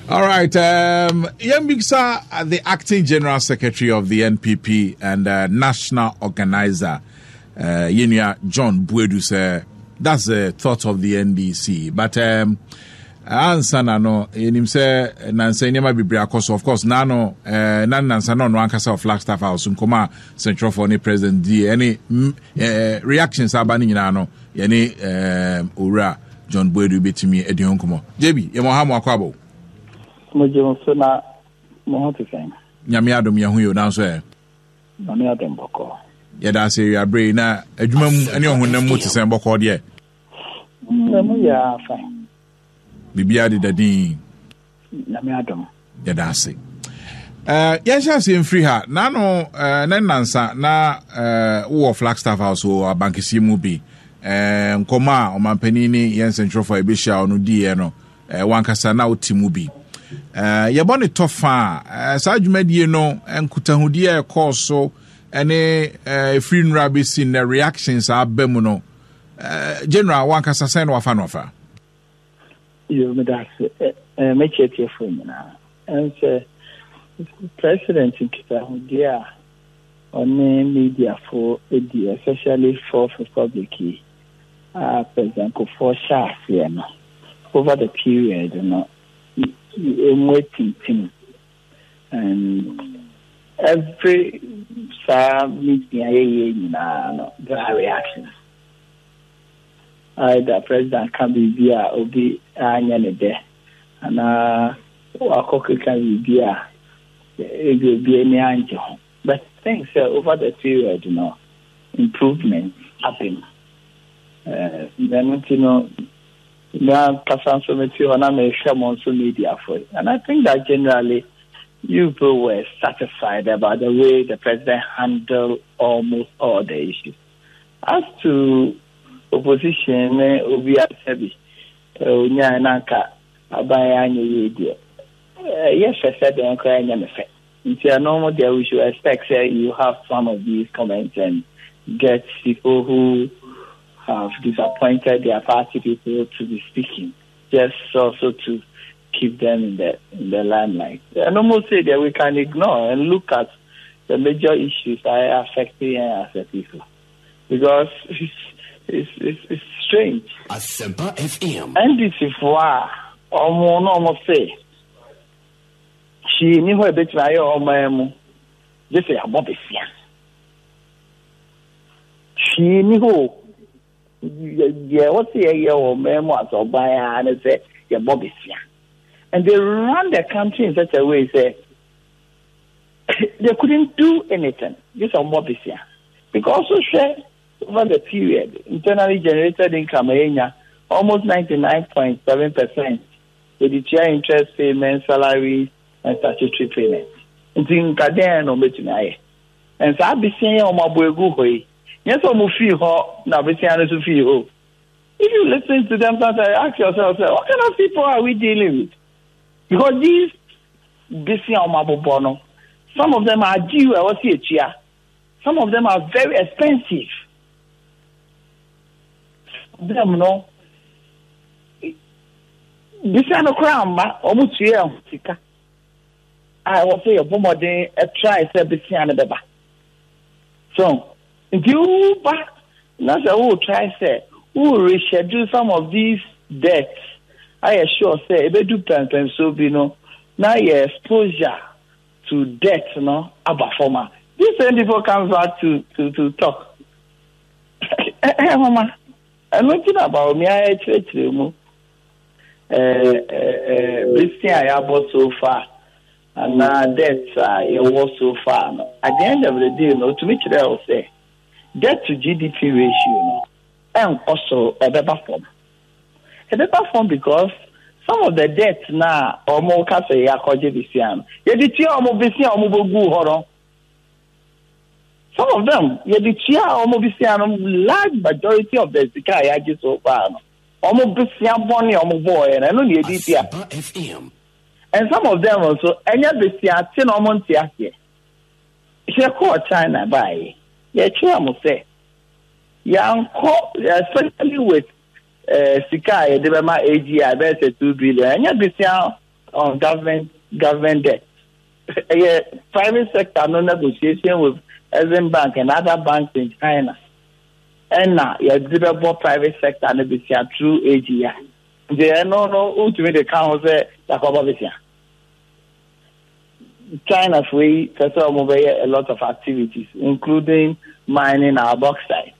All right. Um, Yembiksa, uh, the acting general secretary of the NPP and uh, national organizer, uh, Yenia John Buedu, said that's the thought of the NDC. But um, ansa na no yɛnim sɛ eh, nansa nneɛma bebree akɔ so of course na no eh, na nansa na ɔno ankasa wɔ flagstaff house nkɔmɔ a sɛntwerɛfoɔ ne president di ɛne Eh, reactions aba no nyinaa no yɛne eh, owura john boadu bɛtumi adi ho nkɔmmɔ gyebi yɛmɔ ha mo akɔ abɔ mogye wo so na mo ho te sɛn nyame adom yɛ ho yɛ nanso ɛ nyame adom bɔkɔɔ yɛda ase awiaberɛ yi na adwuma mu ne ɔhonam mu te sɛn bɔkɔɔ deɛ na mu yɛ afa biribiaa deda din Nyame adom. Yɛda ase. Uh, yɛnhyɛ aseɛ mfiri ha na no uh, na nnansa na uh, wowɔ flagstaff house wɔ abankɛseɛ mu bi uh, nkɔmmɔ a ɔmampanin ne yɛn nsɛntwerɛfoɔ a ɛbɛhyia wo no diiɛ no uh, wankasa na wote mu bi uh, yɛbɔ ne tɔ fa uh, saa dwumadie no nkutahodie a ɛkɔɔ so ne ɛfiri uh, nnura bɛsi nnɛ reactions aba mu no uh, general wankasa sɛn na wafa no afa Yo, meda ase. Ɛ, ɛ, me tiatiefo nyinaa. Ɛnsɛ president nkitahodie a ɔne mediafo di, especially Fourth Republic yi a President Kufuor hyɛ aseɛ no, over the period no, emu atintim. And every saa meeting a yɛyɛ nyinaa no, there are reactions. either president ka biribi a obi anyɛ ne dɛ anaa wakɔ keka biribi a ebi obi ani angye ho but I think sɛ over the period no improvement aba mu na ɛno nti no me ankasa nso mete hɔ na mehwɛ mo nso mediafo and I think that generally you people were satisfied about the way the president handled almost all the issues. as to opposition ne obi a sɛbi onyae na anka abaeɛ anyɛ yie deɛ ɛyɛ fɛ sɛ dɛn koraa ɛnyɛ me fɛ nti ɛno mo deɛ we should expect sɛ you have some of these comments and get people who have disappointed their party people to be speaking just also to keep them in the in the limelight ɛno mo say deɛ we can ignore and look at the major issues a affect yɛn as a people because it's it's it's, it's strange. Asempa FM. ndc fo a ɔmo na ɔmo se hwii ni hɔ ebetumi ayɛ ɔman mu gye sɛ yɛabɔ besia hwii ni hɔ o. deɛ wɔsi yɛyɛ wɔ mmaa mu asɛ ɔban ara ne sɛ yɛbɔ besia and they run the country in such a way sɛ they couldn't do anything just sɛ ɔmɔ besia because so hwɛ over the period internally generated income ɛyɛ nya almost ninety nine point seven percent yɛde tua interest payment salary and statutory payment nti nkadɛn na wɔbɛtumi ayɛ nsa abesia yɛ wɔn abɔ egu hɔ yi. Nyɛ sɛ ɔmo fii hɔ na bosea no so fii hɔ o. If you listen to them sometimes you ask yourself sɛ what kind of people are we dealing with? Because these bosea ɔmo abobɔ no some of them are due a ɛwɔ sɛ yɛtua. Some of them are very expensive. Some of them no bosea no koraa mma ɔmo tua ɛho sika a ɛwɔ sɛ yɛbɔ mmɔden try sɛ bosea no bɛba. So nti woba na sɛ wo try sɛ wo reschedule some of these deaths ayɛ sure sɛ ebedu pɛmpɛnsoɔ bi no na yɛ exposure to death no aba fam a this same people comes back to to to talk ɛɛ homa ɛno nti na baomi ayɛ kyerɛkyerɛ mu ɛɛ ɛɛ ɛɛ besia a yɛabɔ so far. Anaa debt a yɛwɔ so far no. At the end of the day no, otumi kyerɛɛ wo sɛ debt to GDP ratio no ɛnkɔ soro, ɛbɛba fam. Ɛbɛba fam because some of the debt no a wɔka sɛ yɛakɔgye besia no, yɛde tua wɔn besia a wɔbɛgu hɔ no. Some of them, yɛde tua wɔn besia no, large majority of the sika a yɛagye so far no, wɔn besia bɔne a wɔbɔɔɛ no, ɛno na yɛde tua. And some of them nso ɛnyɛ besiate na wɔn nte aseɛ. Yɛkɔɔ China baeɛ, yɛkyerɛ mo sɛ yɛankɔ especially with uh, sika a yɛde bɛma AGI bɛyɛ sɛ two billion ɛnyɛ besia on government government debt. Ɛyɛ private sector no negotiation with Exim Bank and other banks in China. Ɛna yɛde bɛbɔ private sector no besia through AGI. Nti ɛno no wotumi de ka ho sɛ Yakoba bɛsua. China foɔ yi pɛ sɛ wɔn bɛyɛ a lot of activities including mining our bauxite.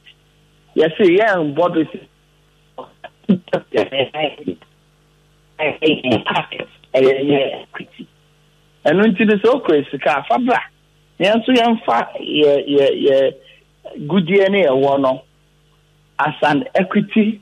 Yɛse yɛn bɔ do si ɛyɛ yɛ equity. Ɛno nti no sɛ okura sika a fa bra na yɛn nso yɛmfa yɛ yɛ yɛ gudeɛ ne yɛwɔ no as an equity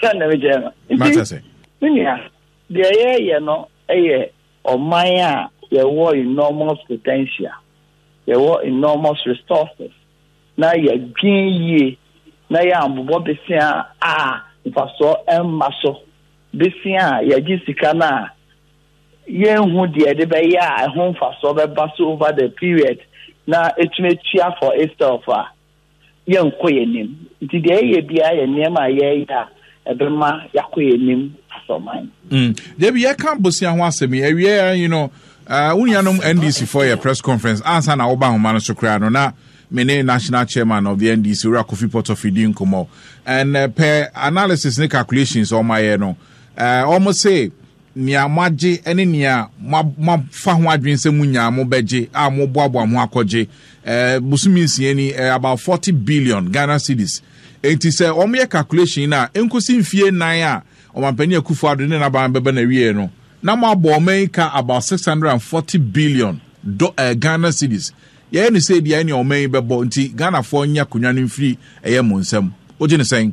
sɛ na mekyɛ no nti me nua deɛ yɛyɛ no yɛ ɔman a yɛwɔ enormous potential yɛwɔ enormous resources na yɛdwen yie na yɛ ambobɔ besia a mfasoɔ mma so besia a yɛgye sika no a yɛnhu deɛ de bɛyɛ a ɛho mfasoɔ bɛba so over the period na ɛtumi atua for itself a yɛnkɔ yɛn anim. Nti deɛ yɛyɛ biara yɛ nneɛma a yɛyɛ a ɛbɛma yɛakɔ yɛn anim asɔman. Mm. Deɛ bi yɛka bosia ho asɛm yi awie a yi no uh, wo nuanom NDC fɔ yɛ press conference ansa na woba ahoma no so koraa no na me ne national chairman of the NDC wura Kofi Potofie di nkɔmmɔ and uh, per analysis ne calculations ɔmayɛ no uh, ɔmo se nea moagye ne nea moafa ho adwene sɛ munya a mobɛgye a moboaboa mo akɔgye bosome nsia ni about forty billion ghana cedis enti sɛ wɔyɛ calculation no a nkosi mfie nnan a ɔmampanin akufo ado ne n'aban bɛba na wie no na moabɔ ɔman yi ka about six hundred and forty billion do uh, ghana cedis yɛyɛ ne sɛ bia ɛne ɔman yi bɛbɔ nti ghanafoɔ nyɛ akonnwa no mfiri ɛyɛ mo nsam wogye ne sɛn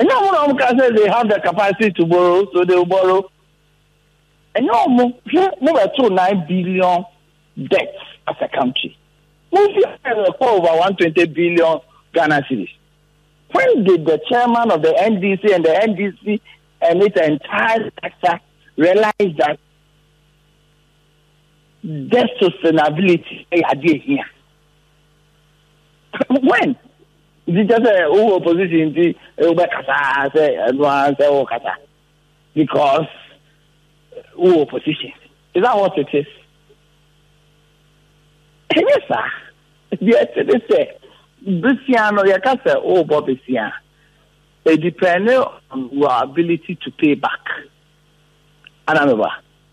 Ɛnyɛ ɔmo na ɔmo kaa sɛ they have the capacity to borrow so they will borrow. Ɛnyɛ ɔmo, hwɛ mo bɛ too nine billion debt as a country. Mo fi ayɛ no ɛkɔ over one twenty billion Ghana cedis. When did the chairman of the NDC and the NDC and its entire structure realize that debt sustainability ɛyɛ adeɛ hia? when nti kyɛ sɛ wowɔ opposition nti wobɛkasa sɛ ɛno ara sɛ wokasa because wowɔ opposition is that what it is ɛnyɛ saa deɛ ɛte ne sɛ besia no yɛka sɛ wobɔ besia it depends on your ability to pay back ana meba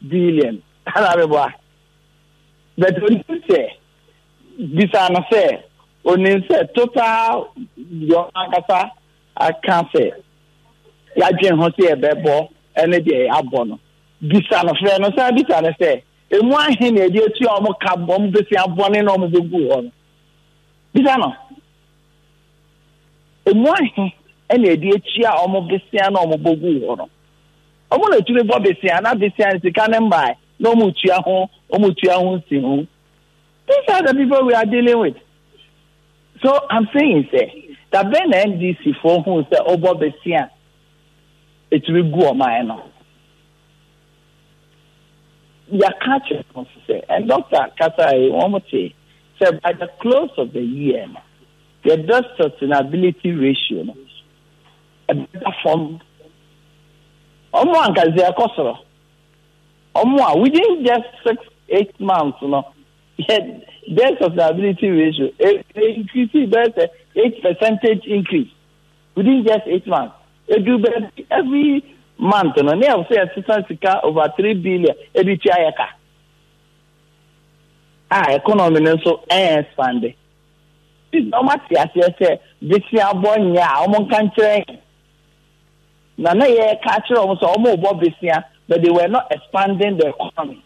billion na meboa but onim sɛ bisa no sɛ onim sɛ total deɛ ɔno ankasa aka sɛ yɛadwen ho sɛ yɛbɛbɔ ɛne deɛ yɛabɔ no bisa no frɛ no san bisa no sɛ emu ahe na ɛde atua wɔn ka wɔn bɛsi abɔne na wɔn bɛgu hɔ no bisa no emu ahe na ɛde atua wɔn bɛsia na wɔn bɛgu hɔ no. Wɔtumi bɔ bosea na bosea no sika no mmae na wɔtua ho wɔtua ho nsiho. These are the people we are dealing with. So I'm saying sɛ da bɛn na NDC foɔ hu sɛ ɔbɔ bosea ɛtumi gu ɔman no. Yɛaka akyerɛ ho sɛ and doctor kasa yi wɔn te sɛ by the close of the year no yɛdɔ sustainability ratio no. ɛbɛda fam. Wɔn a anka dze ɛkɔ soro. Wɔn a within just six eight months no yɛ death sustainability ratio e e increase bɛyɛ sɛ eight percentage increase within just eight months. Edu baabi every month no ne ɛwɔ sɛ yɛsesa sika over three billion ebi tua yɛ ka. A economy no nso ɛyɛ expande. Ɔma te aseɛ sɛ besiabɔ nyɛ a wɔn nka nkyerɛ yɛn. Na na yɛ ka akyerɛ wɔn sɛ wɔn rebɔ besia but they were not expanding the economy.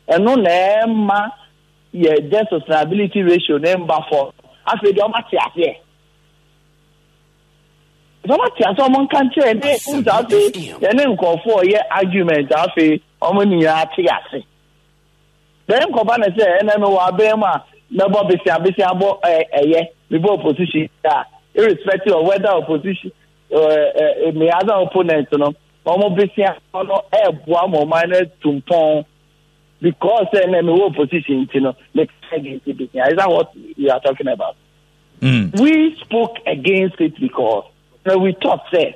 Ɛno na ɛma yɛ debt sustainability ratio no mba fɔm. Afei deɛ wɔma te aseɛ. Sɛ wɔma te aseɛ wɔn nka nkyerɛ yɛn na yɛ kum sɛ afei yɛne nkorɔfoɔ yɛ argument afei wɔn nyinaa te ase. Dɛn kɔba no sɛ ɛnnɛ mewɔ aban mu a mɛbɔ besiabesea bɔ ɛ ɛyɛ mebɔ opposition a irrespective of whether opposition ɛ ɛ me other opponents no wɔn besia no ɛɛboa mo ɔman no atu mpɔn because sɛ ɛnnɛ mewɔ opposition nti no me against besia is that what you are talking about? Mm. We spoke against it because we thought that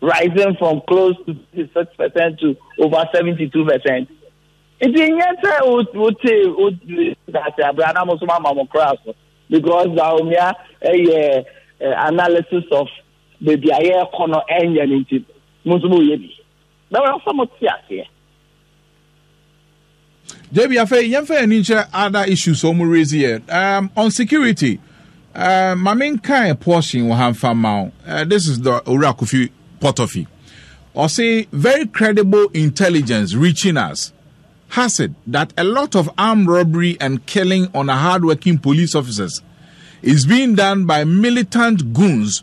rising from close to thirty six percent to over seventy two percent nti nyɛ sɛ wote dase abere anam nso ma ma mo kora so because baomia ɛyɛ eh, eh, analysis of baabi a yɛrekɔ no ɛnyɛ no nti mo nso mo yɛ bi bɛwura sɛ mo te aseɛ. Debbie afei yɛmfa yɛn ani nkyerɛ other issues a wɔn raise yɛ um, on security uh, ma me nkan portion wɔ ha nfa ma wo uh, this is the owura kofi potofi ɔse very credible intelligence reaching us has it that a lot of armed robbery and killing on hardworking police officers is being done by militant goons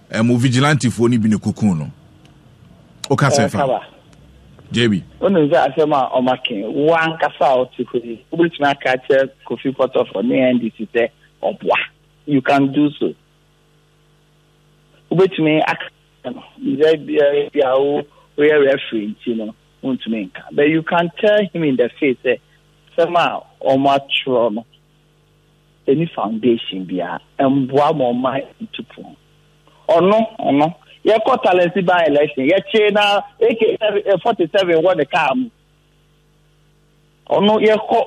Ɛmo vigilantefoɔ no bi na ɛkɔkuu no. Woka sɛ fa Ɛkaba. JB. wonim sɛ asɛm a ɔmake wo ankasa a wote hɔ yi wobɛtumi aka akyerɛ kofi pɔtɔfo ne ndc sɛ ɔboa you can do so wobɛtumi aka no sɛ biara bi a wo woyɛ referee nti no wontumi nka but you can tell him in the face sɛ asɛm a ɔmatwerɛ no ɛni foundation biara ɛmboa ma ɔma ntu pon ɔno ɔno yɛkɔ talent by election yɛkyee na ak 47 wɔ ne kaa mu ɔno yɛkɔ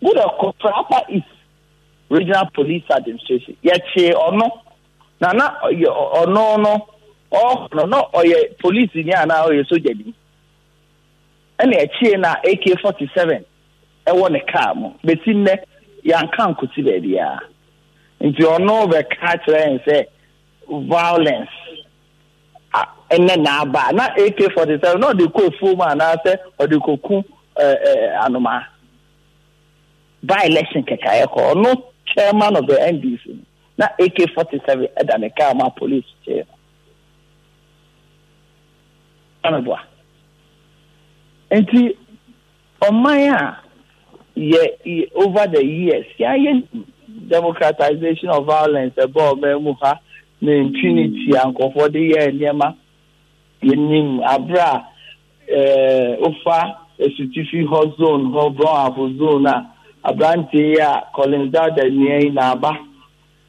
wúdà kɔ Taraba East regional police administration yɛkyee ɔno na na ɔno no ɔno na ɔyɛ police ni anaa ɔyɛ sogya ni ɛna akyire na AK 47 ɛwɔ ne kaa mu bɛsi nnɛ yɛanka nkɔsi baabiara nti ɔno bɛka kyerɛ yɛn sɛ violence ɛnɛ na aba na AK 47 na ɔde kɔ afuo mu anaasɛ ɔde kɔku anoma by election kɛkaeɛ kɔ ɔno chairman of the NDC na AK 47 ɛda ne kaa mu a police kyee no meboa. Nti ɔman a yɛ over the years yɛayɛ democratization of violence ɛbɔ ɔman mu ha ne impunity a nkurɔfoɔ de yɛ nneɛma yɛnim abere a wofa asutifi hɔ zone hɔ brɔn afo zone a aberanteɛ yi a Collins Dada nua yi na aba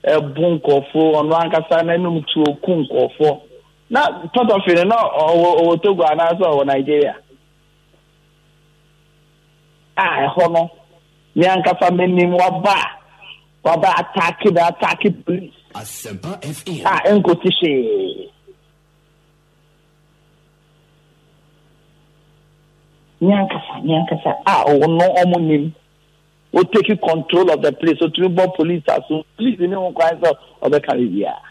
bu nkorɔfo, ɔno ankasa n'anum tuo ku nkorɔfo. Na Tɔtɔfe no na ɔwɔ ɔwɔ Togo anaasɛ ɔwɔ Nigeria. A ɛhɔ no, me ankasa menim waba a waba ataake me ataake police Asempa FM. a ɛnkɔsi hwee. Me ankasa me ankasa a ɔwɔ no ɔmo nim. Wo take control of the place otumi bɔ police aso police ne ho kwan sɛ ɔbɛka biribiara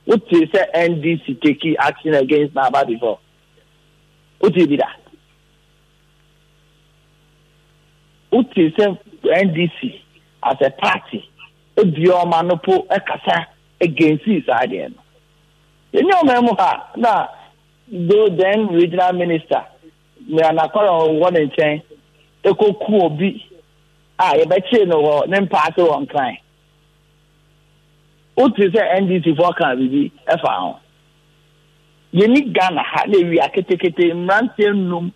wo tee sɛ NDC take action against n'aba before wo tee bi da wo tee sɛ NDC as a party ebi ɔma no po ɛkasa against saa deɛ no yɛnyɛ ɔman mu ha na though then regional minister Nea nokware a ɔwɔ ne nkyɛn koku obi a, yɛbɛkyere no wɔ ne mpa ase wɔ Nkran. Wote sɛ NDCfoɔ ka biribi fa ho. Yɛni Ghana ha na ewia ketekete mmeranteɛ nnum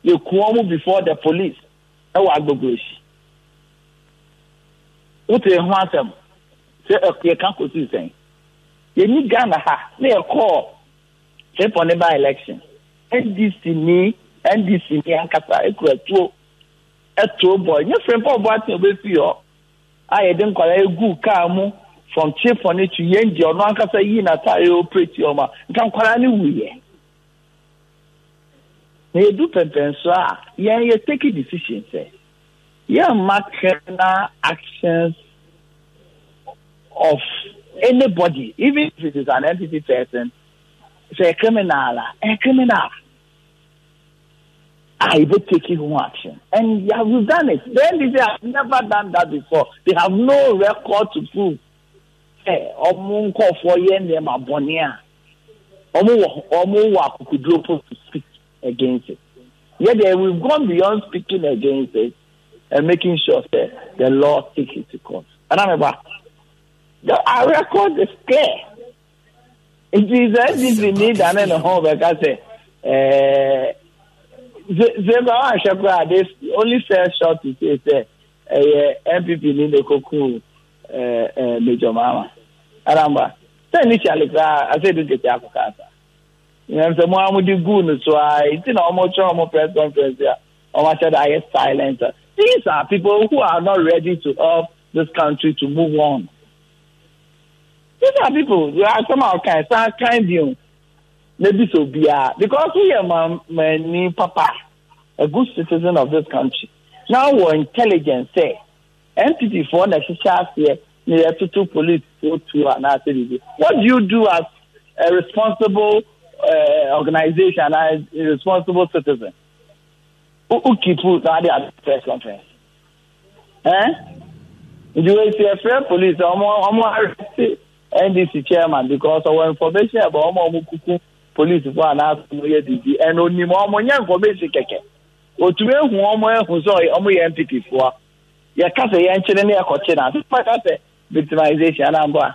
yɛku wɔn before the police wɔ Agbogurohyi. Wote ho asɛm sɛ yɛka kɔsii sɛn? Yɛni Ghana ha na yɛkɔɔ Say for ne by election NDC ni NDC ni ankasa ekura tuo ɛtoo bɔ nye Frimpong Boateng obefii hɔ a yɛde nkwadaa eguu kaa mu from Chifone to Yendi ɔno ankasa yii n'ataare operate wɔn a nka nkwadaa no wu yɛ na yɛdu pɛmpɛnso a yɛn yɛ take decision sɛ yɛmma criminal actions of anybody even if it is an entity person sɛ criminal a ɛyɛ criminal a yɛbɛ take ho action and you have done it then they say have never done that before they have no record to prove sɛ ɔmo nkɔfoɔ yɛ nneɛma bɔnne a ɔmo wɔ ɔmo wɔ akokoduro po to speak. against it. Yɛ deɛ we've gone beyond speaking against it and making sure that the law takes its course. Ɛna mi ba, the our record is clear. Nti sɛ NDC ni dane ne ho bɛka sɛ ɛɛ sɛ ba wa ahwɛ koraa this only fair shot to say sɛ ɛyɛ NPP ni ne koku ɛɛ ɛɛ Major Mahama. Ɛna mi ba, sɛ initially koraa I say this get akɔ kaasa. Nyansamu a wɔde guu no so ara nti na wɔkyerɛ wɔn press conference a wɔahyɛ da ayɛ silent. These are people who are not ready to help this country to move on. These are people asɛm a ɔkan san kan bio na bi sɛ obiara because woyɛ mamani papa a good citizen of this country na wɔ intelligence sɛ NPP foɔ na ɛhyehyɛ aseɛ na yɛtoto police foɔ tuo anaasɛ biribi. What do you do as a responsible uh, organization and a responsible citizen? Who keep you now the press conference? Eh? Do you see a fair police? I'm arrested NDC chairman because our information about ọmọ kuku police for an ask no yɛ didi and only ọmọ nya information kɛkɛ. Otumi ehu ọmọ ehu sɛ ọmọ yɛ NPP foɔ. yɛka sɛ yɛnkyere ne yɛkɔkye no ase maka sɛ victimization ana mbɔ a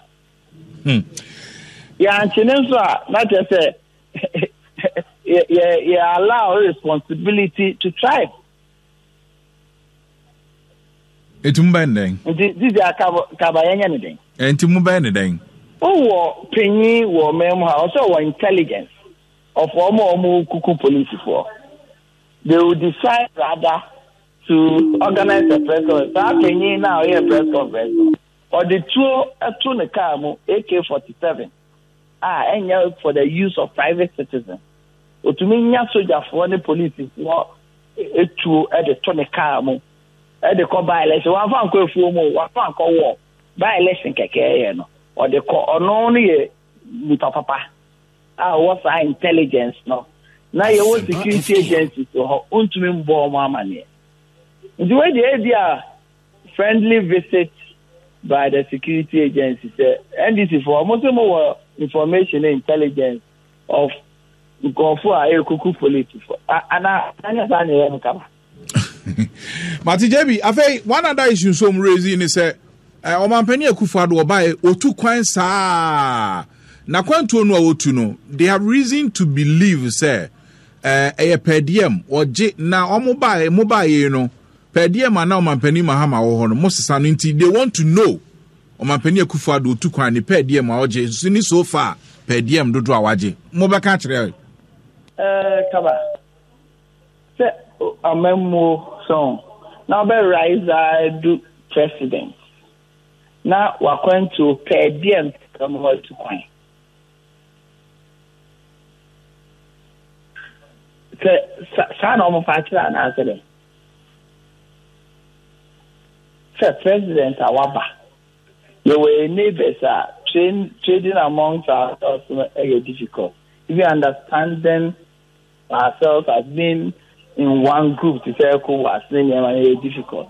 hmm. yɛankye ne nso a na kyerɛ sɛ yɛ allow responsibility to tribe ɛtumi bɛn dɛn nti didi a kaba yɛnyɛ ne dɛn ɛnti mu bɛn ne dɛn wowɔ panyin wɔ ɔman mu ha ɔsɛ wɔ intelligence of ɔmo a ɔmo kuku polisifoɔ they will decide rather to organise the press conference saa panyin no a ɔyɛɛ press conference no ɔde tuo to ne kaa mu AK-47 a ɛnyɛ for the use of private citizens ɔtumi nya sogyafoɔ ne polisifoɔ tuo de to ne kaa mu de kɔ by election wɔamfa nkɔ afuo mu wɔamfa nkɔ wɔ by election kɛkɛɛyɛ no ɔde kɔ ɔno no yɛ nipa papa a ɔwɔ saa intelligence no na yɛwɔ security agencies wɔ hɔ wontumi mbɔ wɔn amaneɛ nti wei deɛ ebi a friendly visit by the security agency sɛ ndc foɔ wɔn nso mo wɔ information and intelligence of nkurɔfoɔ a ɛrekuku polisifoɔ anaa anyɛ saa na ɛyɛ no kaba. Mate JB. Afei, one other issue nso wɔn raise ne sɛ, eh, ɔmampanin Akufo Addo ɔbaeɛ otu kwan saa na kwantuo no a otu no, they have reason to believe sɛ eh, ɛyɛ pɛɛdiɛm ɔgye na wɔn baeɛ wɔn baeɛ no pɛɛdiɛm a na ɔmampanin Mahama wɔ hɔ no mo sesa no nti they want to know ɔmampanin Akufo Addo otu kwan ne pɛɛdiɛm a ɔgye nso ne so far pɛɛdiɛm dodo a wagye mo bɛka kyerɛ. Eh, kaba. Sɛ amammuo sɔn na ɔbɛ rise ara adu president na wakwantuo pɛ deɛ mpɛ ma watu kwan. Sɛ saa na wɔn fa akyerɛ anaasɛ dɛn? Sɛ president a waba yɛwɔ yɛn neighbors a train trading amongst ourselves no ɛyɛ difficult even understanding Our cells as being in one group te sɛ ECOWAS ne nneɛma no yɛ difficult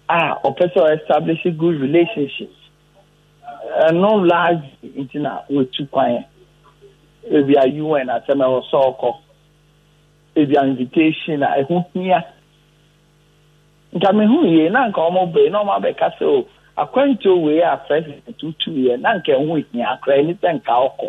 a ɔpɛ sɛ establish good relationships ɛno largely nti na wɔtu kwan ebi a UN asɛm ɛwɔ sɛ ɔkɔ ebi a invitation a ɛho hia nka mehu yie na nka wɔn bɛ na wɔn abɛka sɛ o akwantuo wei a president tutu yɛ na nka ɛho hia koraa ɛni sɛ nka ɔkɔ.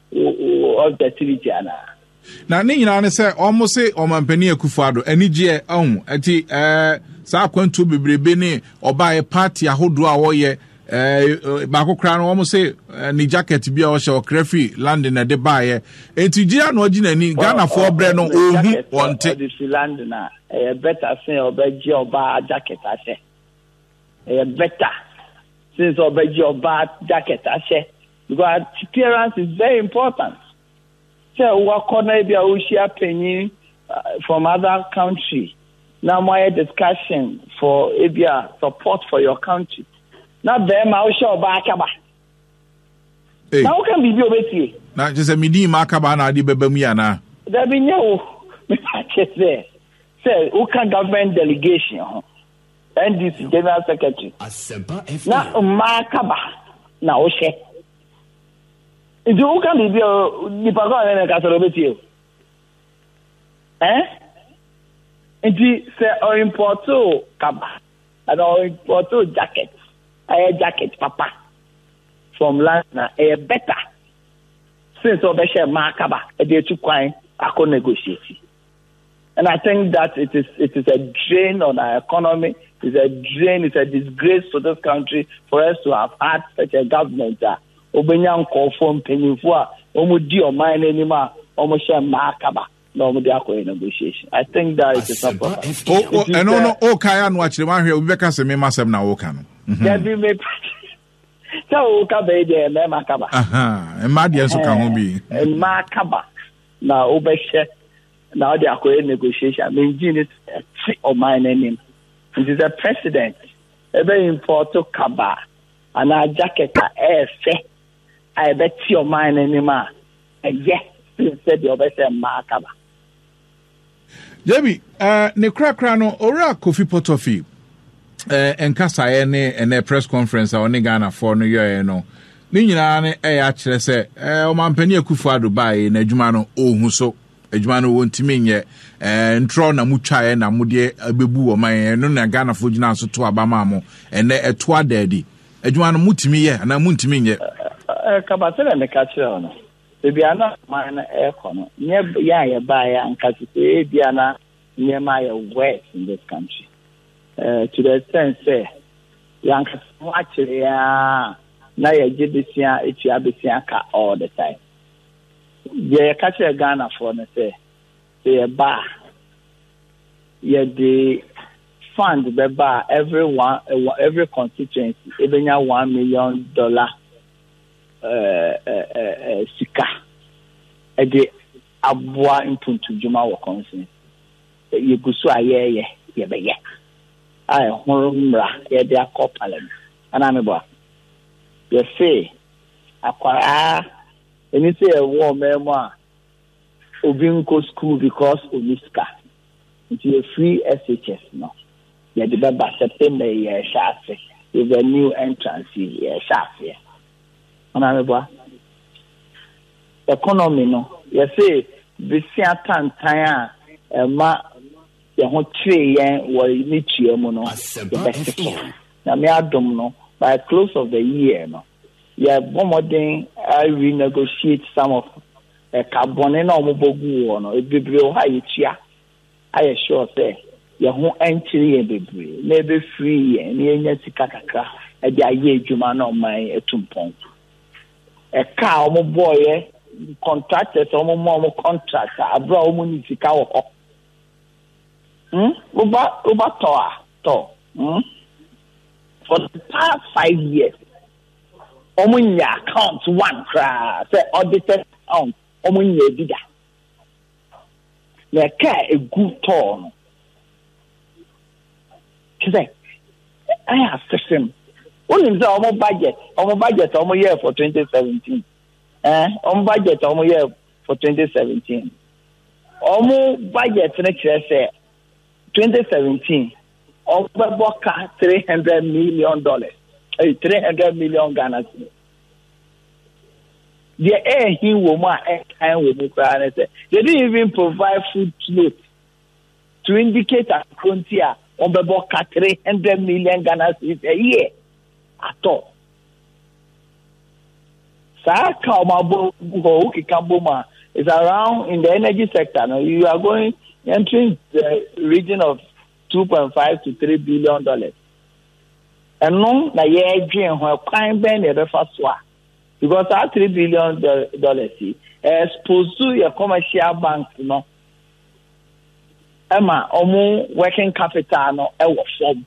uncertainty anaa. na ne nyinaa ne sɛ wɔn se ɔmampanin akufo ado anigyeɛ ahu ɛti ɛɛ saa akwantuo bebrebe ne ɔbaeɛ party ahodoɔ a wɔyɛ ɛɛ baako koraa no wɔn se ne jacket bi a ɔhyɛ ɔkra firi london na ɛde baeɛ eti gyina na ɔgye n'ani ghanafoɔ brɛ no ɔhu wɔn te. ɔde fi london a ɛyɛ bɛta sen ɔbɛgye ɔbaa jacket ahyɛ ɛyɛ bɛta sen sɛ ɔbɛgye ɔbaa jacket ahyɛ Because appearance is very important. Sɛ wakɔ na ebi a wohyia panyin from other country na mo ayɛ discussion for ebi a support for your country na bɛrima wohyɛ ɔbaa akaba. Na woka biribi obetie. Na kyerɛ sɛ medi ma akaba na ade bɛba mu yi anaa? Dabi nyɛ wo. Mepa kyɛ sɛ sɛ woka government delegation ho NDC General Secretary na mmaa kaba na wohyɛ nti woka biribi a nipa kɔ ne ne kasa na obetie ɛn nti sɛ ɔimpɔto kaba ɛna ɔimpɔto jacket ɛyɛ jacket papa from last na ɛyɛ better since ɔbɛhyɛ mmaa kaba ɛde etu kwan akɔ negotiate. And I think that it is it is a drain on our economy. It's a drain. It's a disgrace to this country for us to have had such a government. Uh, obenya nkɔfoɔ mpanyinfoɔ a wɔn di ɔman n'anim a wɔn hyɛ mmaa kaba na wɔn de akɔyɛ negotiation. I think that it is not proper. ɛno no o kan ano akyerɛ mu ahwɛ obi bɛka sɛ mema asɛm na o kan no. dabi mi sɛ o ka bɛyi deɛ mmarima kaba. mmaa deɛ nso ka ho bi. mmaa kaba. na wobɛhyɛ na ɔde akɔyɛ negotiation mengye ne te ɔman no anim nti sɛ president ɛbɛ impɔto kaba anaa jacket a ɛɛfɛ a ɛbɛte ɔman no anim a ɛyɛ sɛ deɛ ɔbɛsɛ mmaa kaba Dabi, eh, ne korakora no, Owura Kofi Potoffi, eh, nkasaeɛ ne ɛnɛ press conference a ɔne Ghanafoɔ no yɔɛ no, ne nyinaa no ɛyɛ akyerɛ sɛ, eh, ɔmampani Akufo Ado baeɛ na adwuma no ɔhu so. adwuma no wɔntumi nyɛ eh, ntorɔ na motwaeɛ na modeɛ abɛbu wɔ man ɛno na Ghanafoɔ gyinaa so to aba maa mo ɛnɛ ɛto adaadi adwuma no motumi yɛ anaa montumi nyɛ. Ɛkaba sɛ na meka kyerɛ no Baabi a na ɔman no rekɔ no, nyɛ yɛn a yɛbaeɛ a nka te sɛ ebia na nneɛma ayɛ worse in this country. Uh, to the extent sɛ yɛankasa ho akyere yɛn na yɛgye besia etua besia ka all the time. Deɛ yɛka kyerɛ Ghanafoɔ no sɛ sɛ yɛba a yɛde fund bɛba a every one every constituency ebenya one million dollar sika de aboa mpuntudwuma wɔ kɔnsen. Yɛgu so a yɛyɛ yɛbɛyɛ a ɛho mmara yɛde akɔ parliament anaa meboa yɛse akwaraa ɛni sɛ yɛwɔ ɔmaa mu a obi nkɔ school because ɔni sika Nti yɛfiri SHS no yɛde bɛba September yi yɛrehyɛ ase with the new entrance yi yɛrehyɛ aseɛ. Ɔno ameboa? Economy no yɛse besia tantan a ɛma yɛn ho kyeree yɛn wɔ ne tua mu no yɛbɛsesa. Nyame adom no by close of the year no yɛbɔ mmɔden renegotiate some of ɛka bɔne na wɔbɔ gu wɔ no bebree wɔ hɔ a yɛtua ayɛ sure sɛ yɛn ho nkyere yɛn bebree na ɛbɛfiri yɛn na yɛnya sika kakra de ayɛ adwuma na ɔman atu mpɔn ɛka a wɔbɔɔyɛ contractors a wɔma wɔn contract a abere a wɔn ne sika wɔ hɔ hmm woba woba tɔ a tɔ hmm. for the past five years wɔn nyɛ account one koraa sɛ audited account wɔn nyɛ ebi da na ɛka a egu tɔɔ no te sɛ ayɛ asesem wonim sɛ wɔn budget wɔn budget a wɔn yɛ for twenty seventeen ɛn wɔn budget a wɔn yɛ for twenty seventeen wɔn budget no kyerɛ sɛ. twenty seventeen ɔbɛbɔ ka three hundred million dollars ɛyɛ eh, three hundred million ghana cedis deɛ ɛɛhi wɔ mu a ɛkan wɔ mu koraa ne sɛ they didn't even provide food note to indicate akoro nti a wɔbɛbɔ ka three hundred million ghana cedis a year atɔ saa ka wɔn abɔ gu hɔ wokeka bom a is around in the energy sector no you are going entering the region of two point five to three billion dollars ɛno na yɛredwen ho ɛkwan bɛn na yɛbɛfa so a because saa three billion dollars yi expose to yɛ commercial banks no ɛma wɔn working capital no ɛwɔ fam.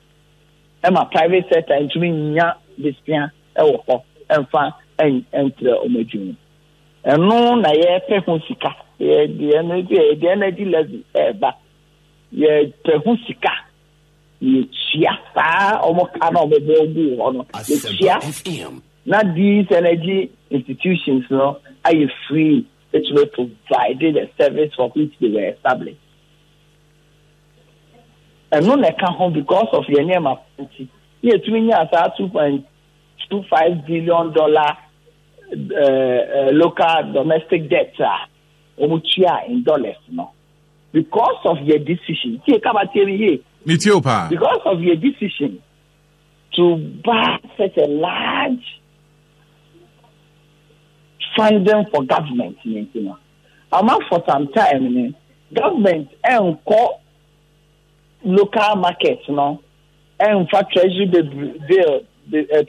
ɛma private sector ntumi nnya desua wɔ hɔ mfa nkyerɛ wɔn adwuma ɛno na yɛpɛ ho sika yɛde energy yɛde energy levy ɛreba yɛpɛ ho sika yɛtua saa wɔn ka na wɔn bɔ gu hɔ no yɛtua na these energy institutions no ayɛ free ɛtumi provide the service for which they were established. Ɛno na ɛka ho because of yɛn nneɛma pa nti na yɛtumi nyaa saa two point two five billion dollar uh, uh, local domestic debt a wɔn tua in dollars no because of your decision tie kaba tie mi yie. mi tie o paa. because of your decision to buy such a large funding for government nti no. Ama for some time no government nkɔ local market no mfa treasury bill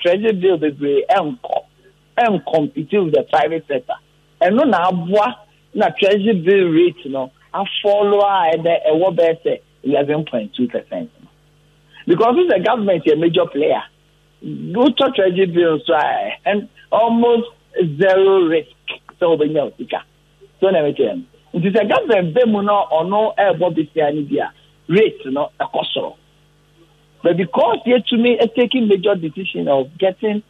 treasury bill bebree nkɔ ncompete with the private sector ɛno na aboa na treasury bill rate no afɔlo a ɛbɛ ɛwɔ bɛyɛ sɛ eleven point two percent because sɛ government yɛ major player Wotɔ treasury bill nso a ɛn almost zero risk sɛ wobɛnya osika so na ɛbɛkyerɛ no nti sɛ government bɛ mu no ɔno ɛrebɔ besia no bi a rate no ɛkɔ soro but because yɛtumi taking major decision of getting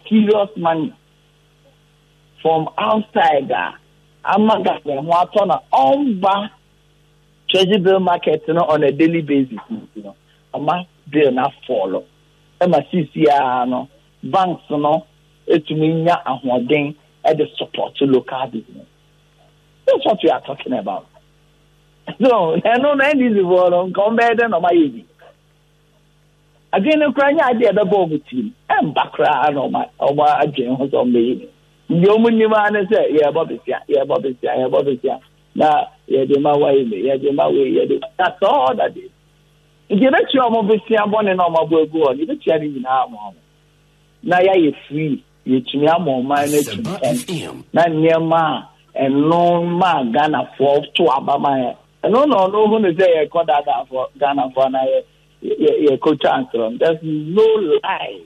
serious money from outside a ama government ho atɔ na ɔmba treasury bill market no on a daily basis no ɔma bill no afɔlɔ ma seesei ara no banks no tumi nya ahoɔden de support local business. That's what we are talking about. So, ɛno no NDC foɔ no nka wɔn bɛyɛ dɛ na wɔn ayɛ bi. Adwene no koraa nyɛ adeɛ ɛbɛbɔ wɔn tirim. Ɛmba koraa na wɔn wɔn adwene ho sɛ wɔn bɛyɛ bi. Deɛ wɔn nim ara ne sɛ yɛrebɔ besia, yɛrebɔ besia, yɛrebɔ besia na yɛde ma wɔayɛ bi, yɛde ma wɔyɛ yɛde. That's all that is. Enti yɛbɛtua wɔn bosea bɔne no a wɔabɔ agu hɔ no, yɛbɛtua ne nyinaa ama wɔn, na yɛayɛ free, yɛatumi ama ɔman no atu mpɔn, na nneɛma a ɛno maa Ghanafoɔ to aba ma yɛ. Ɛno na ɔno hu no sɛ yɛkɔ daadaafoɔ Ghanafoɔ anaa yɛ yɛkɔ twa ntorɔ no. There's no lie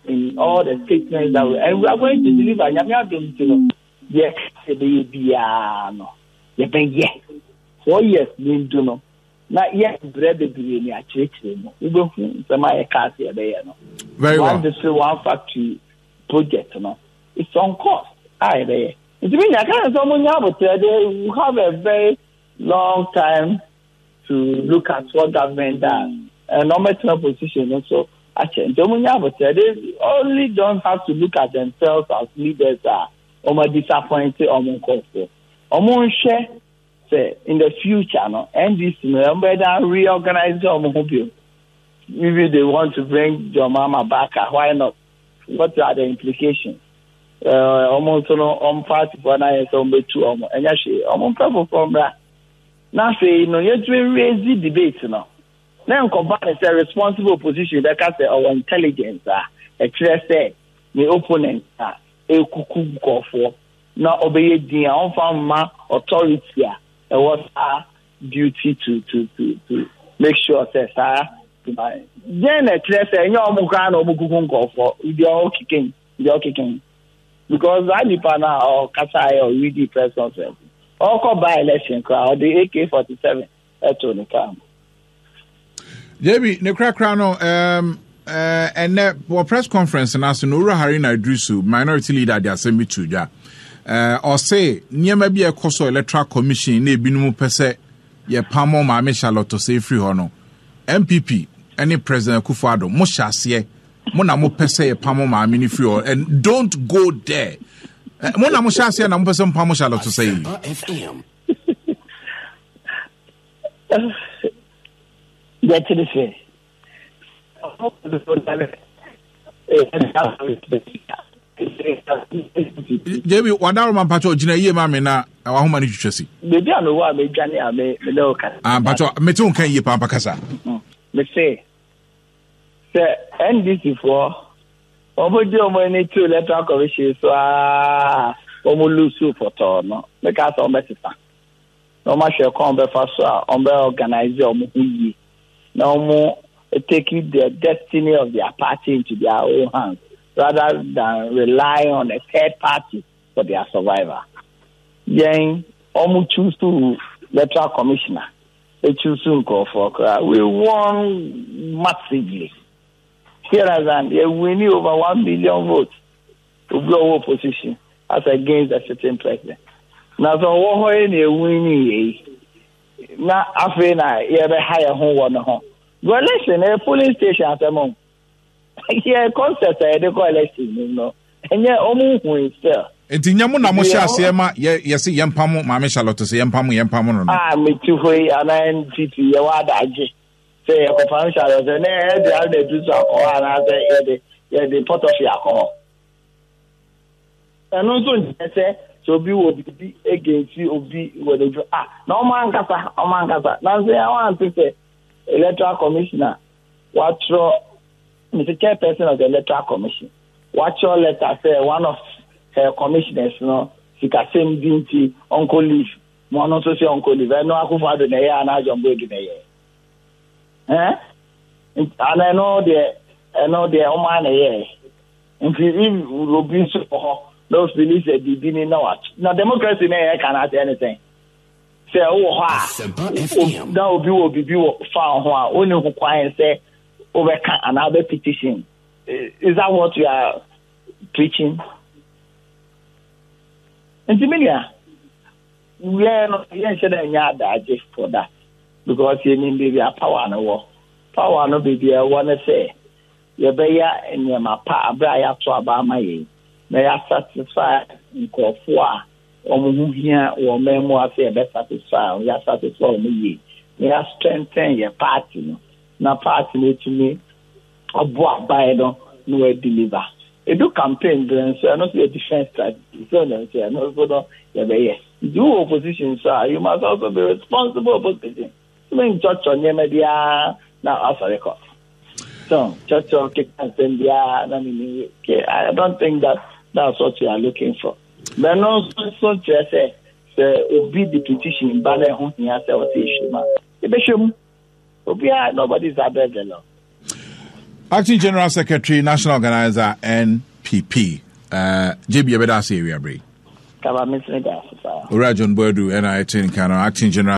in all the statements that we, and we are going to deliver. Nyame adom nti no, yɛka sɛ bɛyɛ biara no, yɛbɛyɛ. Four years ni ndu no, na yɛ brɛ bebree ne akyerɛkyerɛ mu wobɛhu nsɛm a yɛka ase yɛbɛyɛ no one district one factory project no it's on course a yɛbɛyɛ nti mi nya kan sɛ ɔmo nya abotire de you have a very long time to look at what government does and ɔmo ɛtena position no so akyɛ nti ɔmo nya abotire they only don't have to look at themselves as leaders a ɔmo disappoint ɔmo nkɔfo ɔmo nhwɛ. sɛ in the future no ndc no ɛmu bɛ dan reorganize wɔn ho bio maybe they want to bring John Mahama back ah why not what are the implications wɔn eh, nso no wɔn party foɔ no ayɛ sɛ wɔn bɛtu wɔn ɛnyɛ hwee wɔn mpɛ foforɔ mmra na afei no yɛtumi raise debate no na nkɔba ne sɛ responsible opposition bɛka sɛ ɔwɔ intelligence a ɛkyerɛ sɛ ne opponent a ɛkuku nkɔɔfoɔ na ɔbɛyɛ din a ɔmfa mma authority a ɛwɔ saa duty to to to to make sure sɛ saa ma dɛn na ɛkyerɛ sɛ ɛnyɛ ɔmo koraa na ɔmo kuku nkɔfoɔ deɛ ɔwɔ keken deɛ ɔkeken because saa nipa na ɔkasa ayɛ ɔredi press conference ɔkɔ by election koraa ɔde AK forty seven ɛto ne kaa mu. JB, ne korakora no, um, uh, and uh, well, press conference and as Nora Harina Idrisu, minority leader, the assembly to ja. Uh, or say, near maybe a cost electoral commission, ne binumu pese, ye pamo ma me Charlotte say free hono. MPP, any president Kufado, Moshasye, Mona mo pese ye pamo ma me free or and don't go there. Eh, Mona Moshasye, and I'm person pamo Charlotte say. yɛkyere sɛ jebi wadaro ma mpatsɔ gyina yie ma me na wahoma no twitwa si. beebi a mewɔ a medwane a me ne wo kasa. Ah, mpatsɔ mete wo nka yie paa mpa kasa. Mm, mese sɛ ndc foɔ wɔn gye wɔn ani to electoral commission so aa wɔn lusu pɔtɔɔ no meka sɛ wɔn bɛsesa na wɔn ahwɛ kwan bɛfa so a wɔn bɛ organize wɔn ho yie na wɔn take the destiny of their party into their own hands rather than rely on a third party for their survival yɛn wɔn choose to electoral commissioner. Ekyuusu nkorɔfoɔ koraa we won massively hear that and yɛ winni over one million votes obi ɔwɔ opposition as against the sitting president na sɛ ɔwɔ hɔ yɛ na yɛ winni yɛ yi na afei na yɛbɛha yɛ ho wɔ ne ho. Well, listen, a polling station asɛm o. yɛ concert a yɛde kɔ election mu no ɛnyɛ ɔmo nhui sɛ. nti nyɛ mo na mo hyɛ aseɛ ma yɛ yɛsi yɛn pam maame charlotte sɛ yɛn pam yɛn pam no no. a meti hɔ yi anaa npp yɛ wɔ adagye sɛ yɛkɔ pam charlotte sɛ ne ɛde ara na edu so akɔ hɔ anaasɛ yɛde yɛde pɔtɔfi akɔ hɔ ɛno nso nkyɛ sɛ sɛ obi wɔ biribi egensi obi wɔ n'adwuma a na ɔmo ankasa ɔmo ankasa nanso yɛn wɔn ante sɛ electoral commissioner. wɔatwerɛ mr chairperson of the electoral commission wɔatwerɛ letter sɛ one of her commissioners no sikasɛm di nti ɔnkɔ leave ma ɔno nso sɛ ɔnkɔ leave ɛno akofo ado na ɛyɛ anaa john boadu na ɛyɛ ɛn ana ɛno deɛ ɛno deɛ ɔmo a na ɛyɛ nti if obi nso wɔ hɔ na ofili sɛ biribi ni na wa na democracy na ɛyɛ kan ase ɛne sɛn. Sɛ wowɔ hɔ a, na obi wɔ biribi wɔ fa ho a, wonni ho kwan sɛ wobɛka anaa wobɛ petition. Is that what you are preaching? Nti me nua, yɛn no yɛnhyɛ dɛ nyɛ adagye for that because yɛnim baabi a power no wɔ. Power no baabi a ɛwɔ no sɛ yɛbɛyɛ nneɛma pa abere a yɛato aba ama yɛn na yɛasatisfy nkurɔfoɔ a wɔn ho hia wɔ mmaamua sɛ yɛbɛ satisfy wɔn, yɛ satisfy wɔn yie na yɛ strengthen yɛ party no na party no atumi abɔ aban no na wɔyɛ deliver. Edu campaign berɛ nso ɛno nso yɛ different strategy so no nso ɛno nso no yɛbɛyɛ. Nti wowɔ opposition nso a you must also be responsible opposition. Menkyɔkyɔ nneɛma biara na wasɔre kɔ. So kyɔkyɔ keka nsɛm biara na ne ne yie. Okay, I don't think that that's what you are looking for. Bɛno nso so kyerɛ sɛ sɛ obi de petition ba na ɛho hia sɛ ɔsɛ ehwɛ mu a, ebɛhwɛ mu. Obiara, nobody is above the law. Acting General Secretary, National Organizer, NPP. Uh, eh, JB, you better say, we are brave. Kaba, Miss Nida, Ora John Boadu, NIT, Acting General.